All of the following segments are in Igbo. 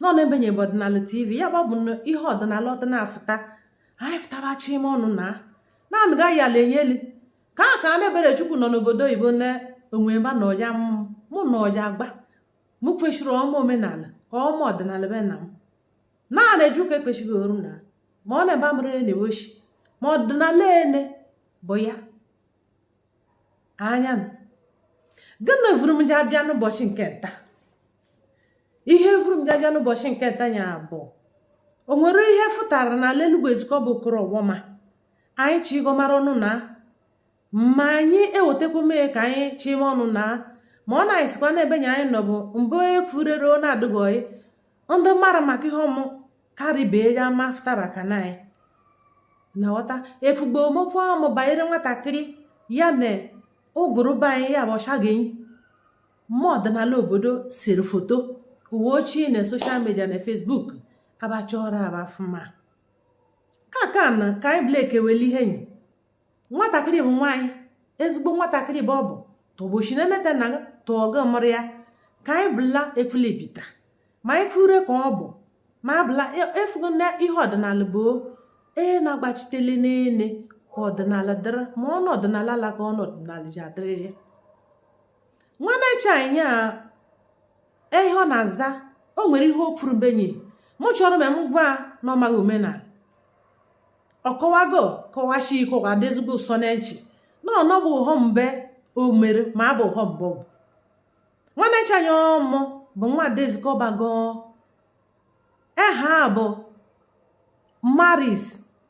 nọ n'ebe nya bụ ọdịnala tv ya gbabụ ihe ọdịnala ọdịnafụta anyị fụtabacha ime ọnụ na naanị gaghị ala enye elu ka a ka a n'ebere Chukwu nọ n'obodo oyibo na onwe ebe na ọja mụ na ọja agba mụ kwesịrị ịma omenala ịma ọdịnala be na m naanị eju ka ekpechighị oru na ma ọ n'ebe a mụrụ ya n'ebe o shi ma ọdịnala ene bụ ya anya gịnị vụrụ m ji abịa n'ụbọchị nke nta ihe vụrụ m ji abịa n'ụbọchị nke tanya bụ o nwere ihe fụtara na ala Enugu Ezike ọ bụ Okorowoma anyị chi ịgọmara ọnụ na ma anyị ewetakwa mee ka anyị chịma ọnụ na ma ọ na-esikwa n'ebe nya anyị nọ bụ mbụ efurere ọ na-adịghị ndị mara maka ihe ọmụ karịbee ya ma fụtaba ka na anyị na ghọta efugbo omokwu ọmụ banyere nwatakịrị ya na ụgụrụ be anyị ya bụ ọcha ga-enyi mma ọdịnala obodo siri foto uwe ochie na social media na Facebook abachọrọ abafụma ka ka na ka anyị blek ewele ihe nyi nwatakịrị bụ nwaanyị ezigbo nwatakịrị bụ ọ bụ tọgbochi na emeta na tọọgụ mụrụ ya ka anyị bụla ekwulebita ma anyị fure ka ọ bụ ma abụla e, efugo na ihe ọdịnala bụ ee na-agbachitele n'ene ka ọdịnala dịrị ma ọnụ ọdịnala ala ka ọnụ ọdịnala ji adịrịrị nwa mecha anyị a ihe ọ na-aza o nwere ihe o kwuru benyi mụ chọrọ ma m gwa na ọ maghị omenala ọ kọwago kọwashi ike ọ ga-adị ezigbo ụsọ na nchị na ọnọ bụ ụghọm be o mere ma abụ ụghọm bụ nwanne chanya ọmụ bụ nwaada Ezike Ọba go eha bụ Maris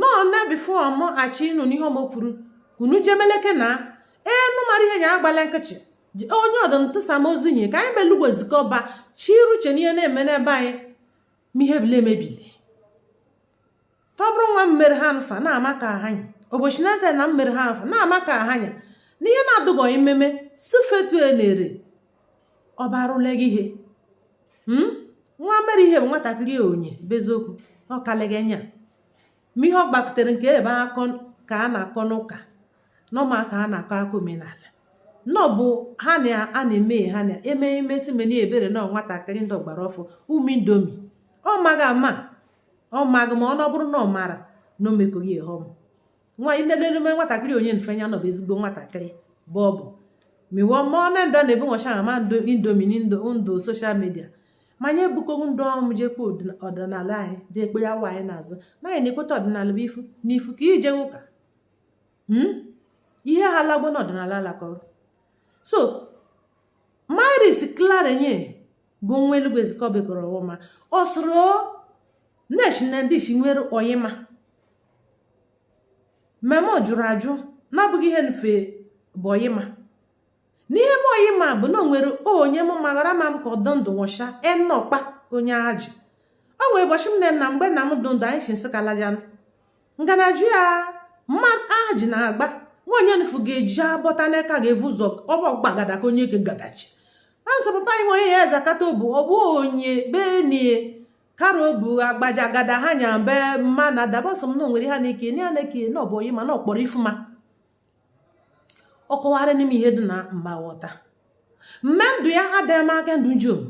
nọ na before m achị ịnụ n'ihe mụ kwuru unu jemeleke na enu mara ihe nya agbala nkịchị onye ọdụ ntụsa m ozi nye ka anyị bụ Elugwu Ezike Ọba chiru uche n'ihe na-eme n'ebe anyị ma ihe bile emebile tọbụrụ nwa mmere ha nfa na-ama ka ha nya ụbọchị nata na mmere ha nfa na-ama ka ha nya n'ihe na-adụgọghị mmeme sifetu elere ọ barụle gị ihe hmm? nwa mere ihe bụ nwatakịrị onye beziokwu ọ kalịghị nya ma ihe ọ gbakutere nke ebe akọ ka a na-akọ n'ụka nọma ka a na-akọ akọ omenala nọ bụ ha na a na-eme ha na eme emesi meni ebere na nwatakịrị ndị ọgbara ọfụ ụmụ indomie ọ maghị ama ọ maghị ma ọ na ọ bụrụ na ọ mara na o mekoghị ihe ọma nwa ilelelume nwatakịrị onye mfe ya nọbụ ezigbo nwatakịrị bụ ọ bụ miwọ mmụọ na ndụ na-ebu nwacha ama ndụ Indomie ndụ social media manya ebukọgbu ndụ ọmụ jekpe ọdịnala anyị jee kpe ya nwaanyị n'azụ naanyị na-ekweta ọdịnala bụ ifu na ifu ka ije ụka hmm? ihe ha lagbo na ọdịnala alakọrọ so Maris Clare nye bụ nwa Elugwu Ezikọba kọrọ ọwụma o soro n'ishi na ndị ishi nwere oyima mmemme ọ jụrụ ajụ na ọ bụghị ihe mfe bụ oyima n'ihe bụ oyima bụ na o nwere onye m maghara ma m ka ọ dụ ndụ nwụcha Enọkpa onye Aji o nwee ụbọchị m na mgbe nna m dụ ndụ anyị si Nsụka lajanụ nganaju ya ma Aji na-agba nwa onye nfu ga-eji abọta n'aka ga-evu ụzọ ọbọ gbagada ka onye ke gadachi ansa papa anyị nwe onye ya eze akata obu ọ bụ onye benie kara obu agbaja agada ha nya mbe mma na dabasọ m na onwere ha na ike na ya na-eke na ọ bụ oyima na ọkpọrọ ifuma ọ kọwara n'ime ihe dị na mma ghọta mme ndụ ya adịghị ka ndụ njom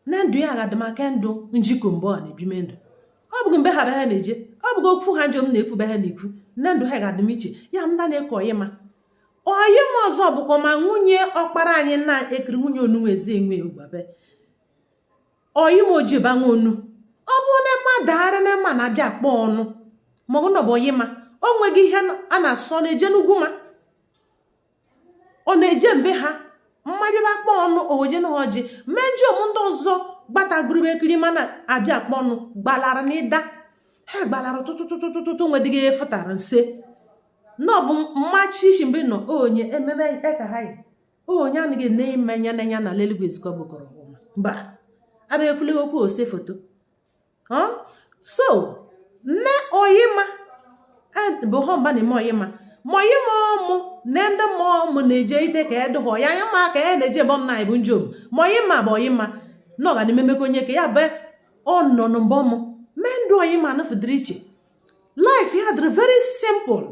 na ndụ ya ga-adị ka ndụ njikọ mgbe ọ na-ebime ndụ ọ bụghị mgbe ha be ha na-eje ọ bụghị okwu ha njom na-ekwu be ha na-ekwu na ndụ ha ga-adị m iche ya m na na-ekọ oyima oyima ọzọ bụkwa ma nwunye ọkpara anyị na-ekiri nwunye onunwe eze enwe ogbabe oyima ojiba nwa onu ọ bụ na mma daara na mma na-abịa akpọ ọnụ ma ọ bụ na ọ bụ oyima o nweghị ihe a na-asọ na-eje n'ugwu ma ọ na-eje mbe ha mmanya bụ akpọ ọnụ oweje na ọjị mejọ m ndị ọzọ gbatagburibe ekiri mana abịa akpọ ọnụ gbalara na ịda ha gbalara tụtụtụtụtụtụ nwedịghị ihe fụtara nse na ọ bụ mmachi ishi mgbe nọ onye ememe ekahaghị onye anaghị na ime anya na anya na ala Elugwu Ezikọba kọrọ ọma mba abịa ekwule okwu ose foto so nne oyima bụ ha mba na-eme oyima ma oyima ọmụ na ndị mmụọ ọmụ na-eje ite ka edụhọ ya anya ma ka ya na-eje bọm na bụ njom ma oyima bụ oyima na ọ ga na-emekọ onye ka ya bụ ọ nọ na mbọ mụ mee ndụ oyima anụfụdịrị iche life ya dịrị very simple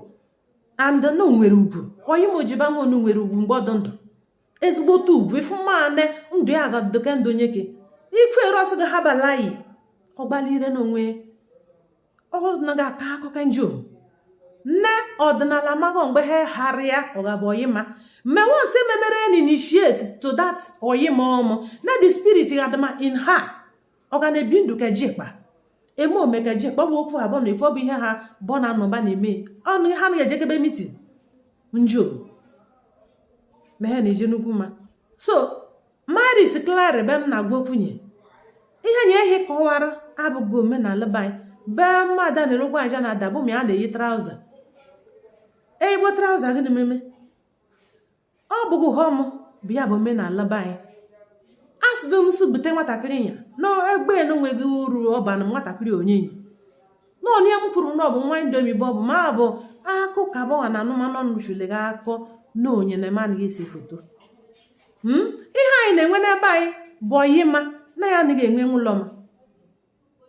and na o nwere ugwu oyima ojiba nwa onu nwere ugwu mgbe ọ dụ ndụ ezigbote ugwu ifu mmanị ndụ ya ga-adụ ka ndụ onye gị ikwu eru ọsị gị ha balayi ọ gbalire n'onwe ọ naghị aka akụkọ njọ na ọdịnala mago mgbe ha harịa ọ ga-abụ oyima mme once e memere an initiate to that oyima ọmụ na the spirit ga-adụma in her ọ ga na-ebi ndụ ka jikpa eme ome ka jikpa ọ bụ okwu abụọ na ekwu ọ bụ ihe ha bọ na anọba na-eme ọnụ ha anaghị ejekebe mitin njiọm ma ha na-eje n'ugwu ma so Maris Clara be m na-agwa okwunye ihe nye ihe kọwara abụghị omenala be anyị bee mmadụ a na-erokwa aja na adabụ ma a na-eyi traụza eyigbo traụza gị na-ememe ọ bụghị hom bụ ya bụ omenala be anyị a sịdo m si bute nwatakịrị ya na egbe enweghị uru ọ ba na nwatakịrị onyenye na onye m kwuru na ọ bụ nwa indomi bụ ọ bụ ma bụ akụ ka bọwa na anụmanụ ọnụ chụle gị akọ na onye na anaghị ese foto ihe anyị na-enwe n'ebe anyị bụ ọyịma na ya anaghị enwe nwụlọma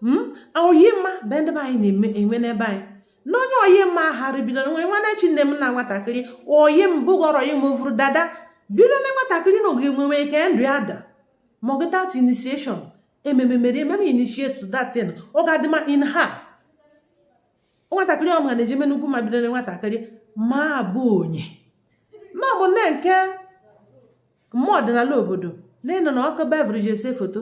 hmm? ọyịma bụ ndị be anyị na-enwe n'ebe anyị na onye ọyịma ahara bido nwe nwanne chi nne m na nwatakịrị oyi m bụgọrọ ya mụvụrụ dada bido na nwatakịrị na oge nwenwe ka ndụ ya dị mma ọ gụtat initiation ememe mere ememe initiate that thing ọ ga-adị mma in ha nwatakịrị ọma na-ejeme n'ugwu ma bido na nwatakịrị ma bụ onye na ọ bụ nne nke mmụọ ọdịnala obodo n'ịnọ na ọkụ beverage ese foto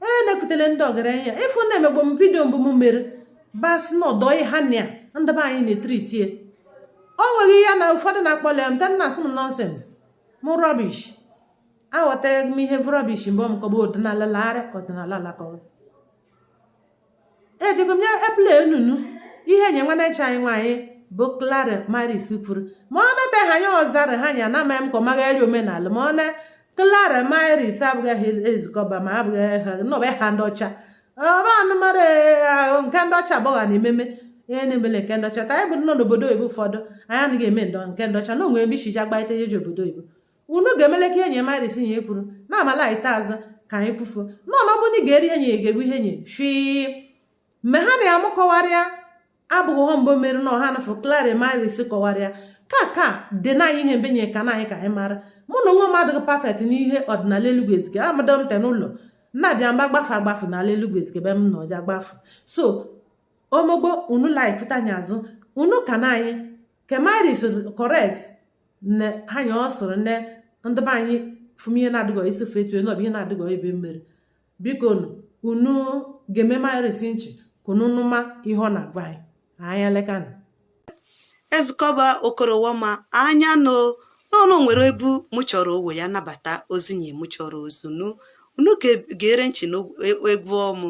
onye na-ekutele ndị ọgaranya ịfụ na emegbo m vidio mbụ m mere basị na ọdọ ha na ya ndị be anyị na-etriti ya o nweghị ihe na ụfọdụ na-akpọle m taa na-asị m nọnsens m rọbish aghọtaghị m ihe rọbish mgbe m kọba ọdịnala larị ọdịnala alakọghị ejego m nye epụl enunu ihe nye nwanne chi anyị nwaanyị bụ Clara Maris kwuru ma ọ nata ha anya ọzara ha nya na amaghị m ka ọ maghị eri omenala ma ọ na Clara Maris abụghị ha Ezike Ọba ma abụghị ha nọbe ha ndị ọcha ọba anụmara ahụ nke ndị ọcha agbọgha na-ememe ihe na-emele nke ndị ọcha taa anyị bụ nọ n'obodo oyibo ụfọdụ anyị anaghị eme ndọ nke ndị ọcha na o nwe ebe ishiji agbaite ihe ji obodo oyibo unu ga-emele ka ihe nye Maris nye kwuru na amala ite azụ ka anyị kwufuo na ọnọbụ ndị ga-eri enyi ga-egbu ihe enyi shii mgbe ha na ya mụ kọwarịa abụghị ha mbụ mere na ọha nafụ Clara Maris kọwarịa ka ka dị na anyị ihe mbe nye ka na anyị ka anyị mara mụ na onwe m adịghị pafet n'ihe ọdịnala Elugwu Ezike amadọ m te n'ụlọ na-abịa mgba gbafe agbafe n'ala Elugwu Ezike be m na ọja gbafe so omogbo unu laikụta anya azụ unu ka na anyị ke Maris correct n'ihe nya ọ sịrị ne ndị be anyị fụm ihe na-adịghọ isi fe etu na ọ bụ ihe na-adịghọ be m mere biko unu geeme Maris nchị ka unu nụma ihe ọ na-agwa anyị anya lekana Ezike Ọba okorowoma anya no n'ọnụ nwere ebu mụ chọrọ owe ya nabata ozi nye mụ chọrọ ozi unu unu gere nchị n'egwu ọmụ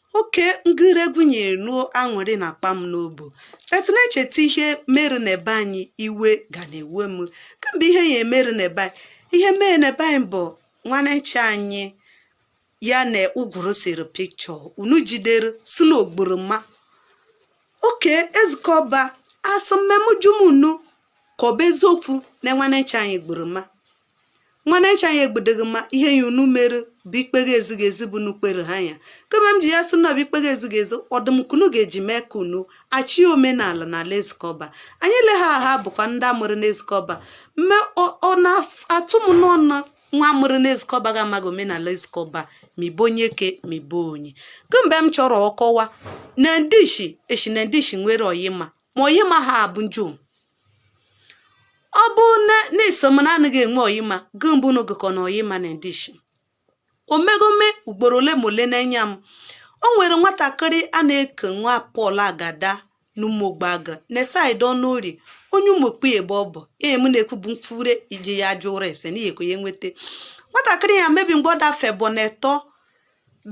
oke ngịregwu nyere nuo aṅụrị na akpa m n'obu etu na-echeta ihe mere na ebe anyị iwe ga na-ewe m kemgbe ihe ya emere na ebe anyị ihe mere na ebe anyị bụ nwannechi anyị ya na ụgwụrụ sere picture unu jidere sị na o gburu mma oke ezikọba asị mmemujumunu ka ọ bụ eziokwu na nwannechi anyị gburu mma nwannechi anyị egbudeghị mma ihe ya unu mere bụ ikpe ezighị ezi bụ unu kpere ha ya kama m ji ya sị na ọ bụ ikpe ezighị ezi ọ dụ m ka unu ga-eji mee ka unu achị omenala na ala ezikọba anyị le ha ha bụkwa ndị a mụrụ na ezikọba mme ọ na-atụ m n'ọnụ nwa a mụrụ na ezikọba ga amaghị omenala ezikọba ma ibe onye ke ma ibe onye kemgbe m chọrọ ọkọwa na ndishi eshi na ndishi nwere oyima ma oyima ha abụ njom ọ bụ na na-eso m na anaghị enwe oyima gị mbụ na ogekọ na oyima na ndishi omegome ugboro ole ma ole na-enye m o nwere nwatakịrị a na-eke nwa paul agada n'ụmụogboagụ na side ọnụ ori onye ụmụokpu ebe ọ bụ ee m na-ekwu bụ mkpụre iji ya jụọ ụra ese n'ihi ekwe ya nweta nwatakịrị ya mebi mgbe ọ dafe bụ na etọ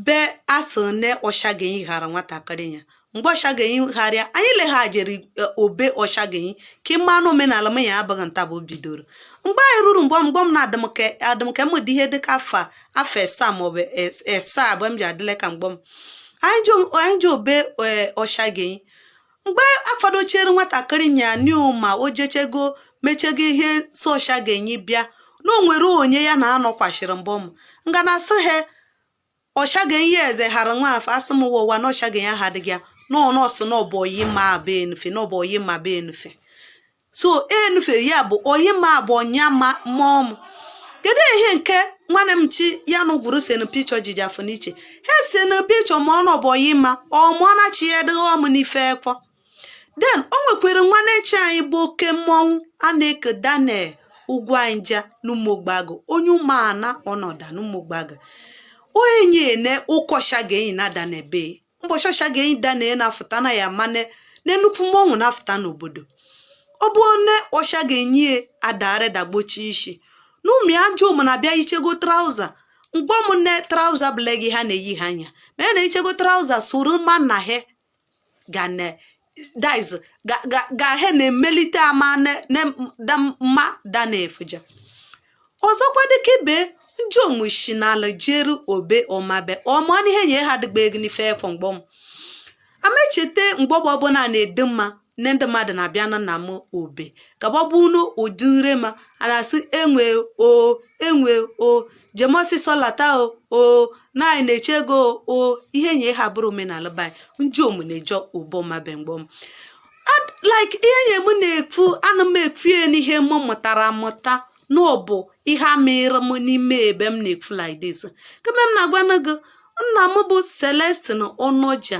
be asị ne ọshagenyi ghara nwatakịrị ya mgbe ọshagenyi gharịa anyị leghajiri e, obe ọshagenyi ka ịma anụ omenala m ya abụghị nta bụ o bidoro mgbe anyị ruru mgbe mgbe m na-adịmke adịmke m dị ihe dịka afa afọ asaa maọbụ asaa abụọ m ji adịle ka mgbe m anyị ji obe e, ọshagenyi mgbe afadochiere nwatakịrị nya new ma o jechego mechego ihe so ọshagenyi bịa na o nwere onye ya na anọkwachiri mbụ m nga na asị ha ọshagenyi eze hara nwa afọ asị m ụwa ụwa na ọshagenyi ha adịghị ya n'ọnụ ọsị na ọbụ oyima be enufe na ọbụ oyima be enufe so enufe ya bụ oyima bụ ọnya ma mmụọ m kedu ihe nke nwanne m chi ya na ụgwụrụ senu picture jiji afọ n'iche ha senu picture ma ọ na ọ bụ oyima ọmụọna chi ya dịghị ọmụ n'ife ekpọ then o nwekwere nwannechi anyị bụ oke mmọnwụ a na-eke daniel ugwuanyị ja n'ụmụogboagụ onye ụmụana ọnọda n'ụmụogboagụ onye na-eku ọshagenyi na ada na ebe ụbọchị ọshagenyi daniel na-afụta na ya mane na nnukwu mmọnwụ na-afụta n'obodo ọ bụ onye ọshagenyi adare dagbochi isi na ụmụ ya ajọ ụmụ na-abịa yichego trouser mgbe m ne trouser bụla gị ha na-eyi ha anya ma ya na-eyichego trouser soro mma na ha ga na diz gahe na-emelite ama na mma daniel fuja ọzọkwa dịka ibe njom shi n'ala jeru obe ọmabe ọma n'ihe nye ha dịgba ego n'ife efọ mgbọ m amecheta mgbe ọbụ ọbụla na-ede mma nne ndị mmadụ na-abịa na nna m obe gagbagbu unu ụdị ure ma a na-asị enwe o enwe o jem ọsịsọ lata o na anyị na-eche gị o ihe nye ha bụrụ omenala be anyị ndiomu na-eje ụbọ ọmabe mgbọ m like ihe nye m na-ekwu ana m ekwu ya n'ihe m mụtara amụta na ọ bụ ihe amụrụ m n'ime ebe m na-ekwu like this kemgbe m na-agwana gị nna m bụ Celestine Ọnọja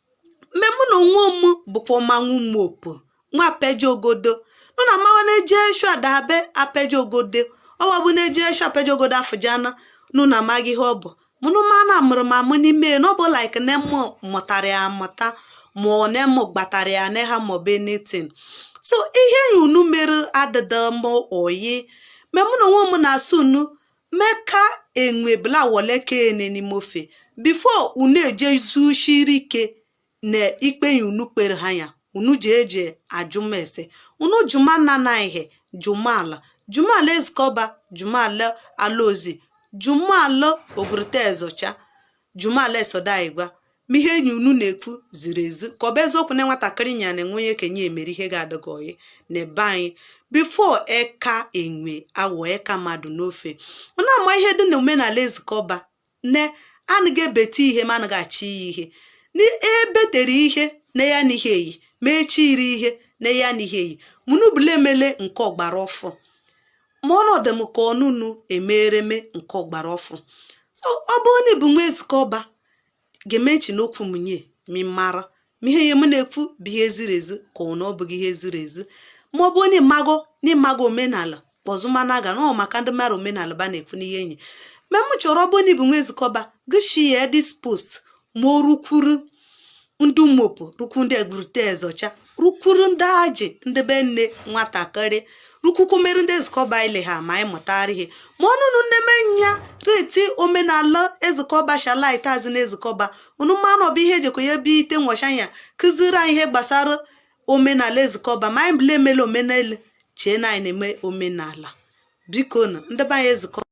mme mụ na onwe m bụkwa ọmanwụ Ụmụopu nwa Apeji Ogodo nọ na mmanwụ na-eji eshu adabe Apeji Ogodo ọwa bụ na-eji eshu Apeji Ogodo afụjana nụ na amaghị ihe ọ bụ mụnụ mana amụrụ m amụ n'ime ya na ọ bụ like na m mụtara ya amụta ma ọ na m gbatara ya na ha ma ọ bụ anything so ihe ya unu mere adịda m oyi mme mụ na onwe m na-asụ unu ma eka enwe bla wọle eka ene n'ime ofe before unu eje zushiri ike na ikpe ya unu kpere ha ya unu ji eje ajụma ese unu jụma nna na ihe jụma ala jụma ala ezikọba jụma ala ala ozi jụma ala Ogurute ezocha jụma ala Esodo igwa ma ihe enyi unu na-ekwu ziri ezi ka ọ bụ eziokwu na nwatakịrị nya na enwe onye kenye emere ihe ga-adịghị oyi na be anyị before eka enwe awọ eka mmadụ n'ofe ọ na-ama ihe dị na omenala ezikọba ne anaghị ebete ihe ma anaghị achị ya ihe ebetere ihe na ya na ihe eyi ma echiri ihe na ya na ihe eyi ma unu bụla emele nke ọgbara ọfụ ma ọ na-adị m ka ọ na unu emereme nke ọgbara ọfụ so ọ bụ onye bụ nwa ezikọba ga-emechi n'okwu m nye mi mara ma ihe ya m na-ekwu bụ ihe ziri ezi ka ọ na ọ bụghị ihe ziri ezi ma ọ bụ onye mmago na ịmago omenala kpọzụmana aga na ọ maka ndị mara omenala ba na-ekwu n'ihe enyi ma m chọrọ ọ bụ onye bụ nwa ezikọba gị share this post ma o rukwuru ndị Ụmụopu rukwu ndị Ogurute ezocha rukwuru ndị Aji ndị be nne nwatakịrị rukwukwu mere ndị ezikọba ile ha ma anyị mụtara ihe ma ọ na unu nne me nya reti omenala ezikọba shalit azị na ezikọba unu ma na ọ bụ ihe ejekọ ya ebe ite nwọcha ya kụziri anyị ihe gbasara omenala ezikọba ma anyị bụla emela omenala chee na anyị na-eme omenala biko na ndị be anyị ezikọ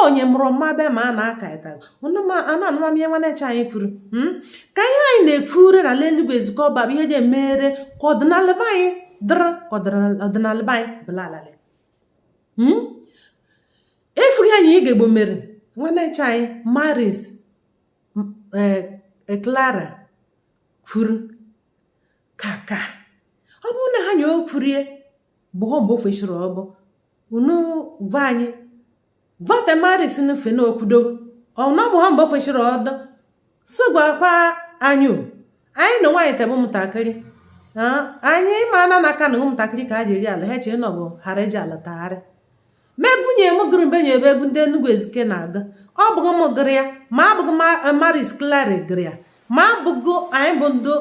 onye mụrụ ọmabe ma a na-aka ịta anụ anụma m ihe nwanne chi anyị kwuru hmm? ka ihe anyị na-ekwure na ala Elugwu ezikọba bụ ihe ji emere ka ọdịnala be anyị dịrị ka ọdịnala be anyị bụla alalị hmm? efughị anyị ị ga-egbo mere nwanne chi anyị Maris Clara eh, kwuru kaka ọ bụrụ na ha nye o kwurie bụ ọ mgbe ofechiri ọbụ unu gwa anyị vote Maris nufe na okwudo ọna bụ ha mgbe kwesịrị ọdọ si gwakwa anyị anyị na nwaanyị tebe ụmụntakịrị anyị ma na n'aka na ụmụntakịrị ka a ji eri ala ha chee na ọ bụ ghara eji ala tagharị mebunye m gụrụ mbe nye ebe egwu ndị Enugu Ezike na-agụ ọ bụghị m gụrụ ya ma abụghị Maris Clara gụrụ ya ma abụghị anyị bụ ndị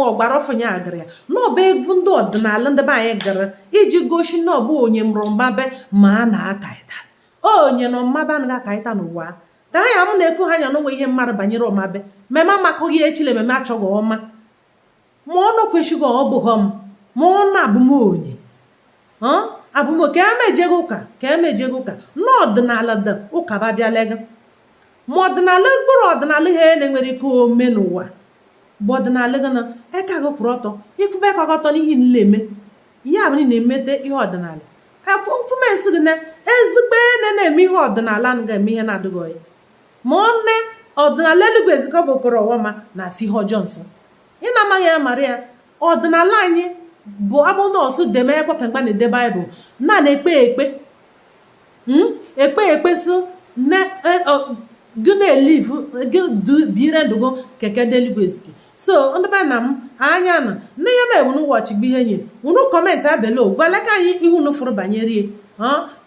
ọgbara ọfụ nye agụrụ ya na ọ bụ egwu ndị ọdịnala ndị be anyị gụrụ iji gosi na ọ bụ onye mụrụ Ọmabe ma a na-akaịta onye nọ Ọmabe anaghị akaịta n'ụwa ka ha ya m na-ekwu ha anya na o nwe ihe m marụ banyere Ọmabe meme amakụghị echile meme achọghị ọma ma ọ nọkwesịghị ọ bụghị m ma ọ na-abụ m onye abụ m ka emejego ụka ka emejego ụka na ọdịnala dị ụka babịalega ma ọdịnala mkpụrụ ọdịnala ihe e na-enwere ike ome n'ụwa bụ ọdịnala gị na eka gị kwụrụ ọtọ ịkwụba eka gị ọtọ n'ihe nile eme ihe abụ na emete ihe ọdịnala ka mfụmensị gị na ezigbo ene na-eme ihe ọdịnala na ga-eme ihe na-adịghị oyi ma ọ nne ọdịnala Elugwu Ezikeọba okoro ọwama na-asọ ihe ọjọọ nsọ ị na-amaghị ya mara ya ọdịnala anyị bụ abụ nọọsụ deme ekwe ka mgbe a na-ede Bible na na-ekpe ekpe Mm? ekpe ekpe so na e- ọ- gị na-elive gị du- bire ndụ gị keke ndị Elugwu Ezike so ndị be nna m anya na nne ya ma unu watch gbe ihe nye unu commentịa below gwala ka anyị ihe unu fụrụ banyere ya ọ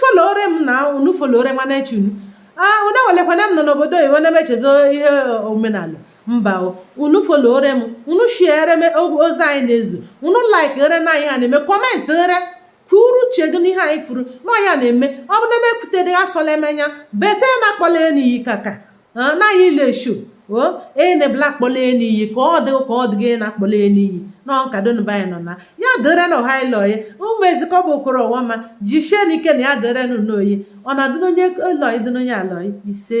followre m na unu followre nwanne chi unu ah, unu awelekwana m nọ n'obodo oyibo na m echezọ ihe omenala mba unu followre m unu sharere m ozi anyị na-ezi unu likere na anyị ha na-eme comment ghere kwuru uche gị n'ihe anyị kwuru na ya na-eme ọ bụ na-emepụtadị asọla emenya bete na akpọla ya n'iyi kaka anaghị ile eshu o enebla akpọla n'iyi ka ọ dịghị na-akpọla n'iyi na ọnkadonba anyị nọ na ya dịre na ọha ile oyi ụmụ Ezikeọba okoro ọwama jisie n'ike na ya dịre unu oyi ọ na-adị n'onye elu oyi dị n'onye ala oyi ise